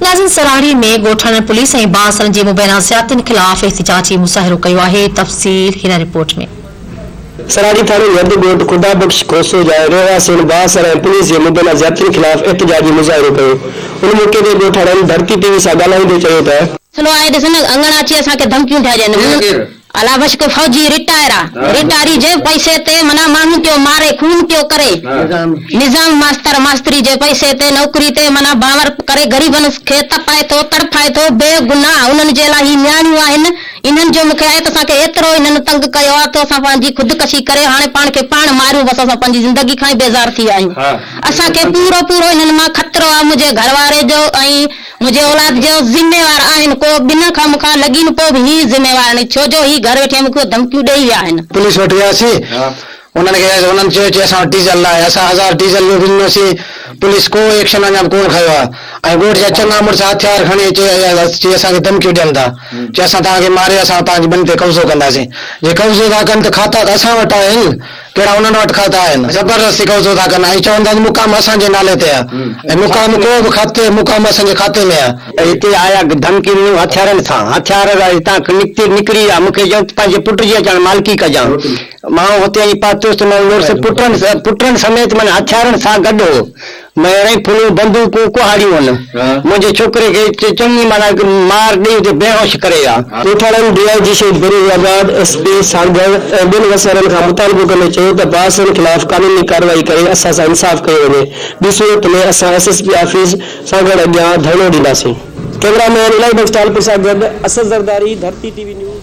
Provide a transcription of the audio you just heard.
ناظرين سرهاڙي ۾ ڳوٺاڻن پوليس ۽ بااثرن جي مبينا زيادتين خلاف احتجاجي مظاهرو ڪيو آهي تفصيل هن رپورٽ ۾. سرهاڙي ٿاڻي جي اڌ ڳوٺ خدا بخش کوسو جاء رهواسين بااثر ۽ پوليس جي مبينا زيادتين خلاف احتجاجي مظاهرو ڪيو ان موقعي تي ڳوٺاڻن ڌرتي ٽي وي سان ڳالهائيندي چيو ته. سنو آهي ڏسن اڱڻ اچي اسان کي ڌمڪيون ڏيا ڄن. الا بشڪ فوجي رٽائرا رٽائري جي پئسي تي معنيٰ ماڻهن پيو ماري خون پيو ڪري نظام ماستر ماستري جي پئسي تي نوڪري تي معنيٰ باور ڪري غريبن کي تپائي ٿو تڙڦائي ٿو بي گناھ انهن جي لاء هي نياڻيون آهن انهن جو مون کي آيت اسان کي ايترو انهن تنگ ڪيو آ ته اسان پنهنجي خودڪشي ڪري هاڻي پاڻ کي پاڻ ماريون بس اسان پنهنجي زندگي کان ئي بيزار ٿي ويا آهيون اسان کي پورو پورو انهن مان خطرو آ منهنجي گهر واري جو ۽ منهنجي اولاد جو ذميوار آهن ڪو ٻنهن کان مون کان لڳي نه پوء به هي زميوار آهن ڇو جو هي گهر ويٺي مون کي ڌمڪيون ڏئي ويا آهن. پوليس وٽ وياسين انهن کي چيائسين انهن چيو چي اسان وٽ ڊيزل ناهي اسان هزار ڊيزل جو به ڏنوسين پوليس ڪو ايڪشن اڃا به ڪونه کنيو آهي ۽ ڳوٺ جا چڱا مڙس هٿيار کڻي اچي اچي اسان کي ڌمڪيون ڏين ٿا چي اسان توهان کي ماري اسان توهان جي ٻني تي قبضو ڪنداسين جي قبضو ٿا ڪن ته کاتا ته اسان وٽ آهن ڪهڙا انهن وٽ خط آهن. زبردستي قبضو ٿا ڪن ۽ چون ٿا ته مقام اسان جي نالي تي آهي ۽ مقام ڪو به خط مقام اسان جي کاتي ۾ آهي. هتي آيا ڌمڪي ڏنو هٿيارن سان هٿيار هتان نڪتي نڪري ويا مون کي چيائون ته پنهنجي پٽ جي اچڻ مالڪي ڪجان مان هتي اچي پهتس ته منهنجو مڙس پٽن پٽن سميت معنيٰ هٿيارن سان گڏ هو مير ۽ ڦلون بندوقون ڪهاڙيون هن منهنجي ڇوڪري کي چڱي معنيٰ مار ڏيئي اتي بيهوش ڪري ويا. ڳوٺاڻن D I G Shaheed Benazirabad, S P Sanghar ۽ ٻين وسيلن کان مطالبو ڪندي چيو ته باسرن خلاف قانوني ڪارروائي ڪري اسان سان انصاف ڪيو وڃي، ٻي صورت ۾ اسان S S P office Sanghar اڳيان ڌرڻو ڏينداسين. ڪئميرا مين الائي بخش ٽالپر سان گڏ Asad Zardari, Dharti T V news.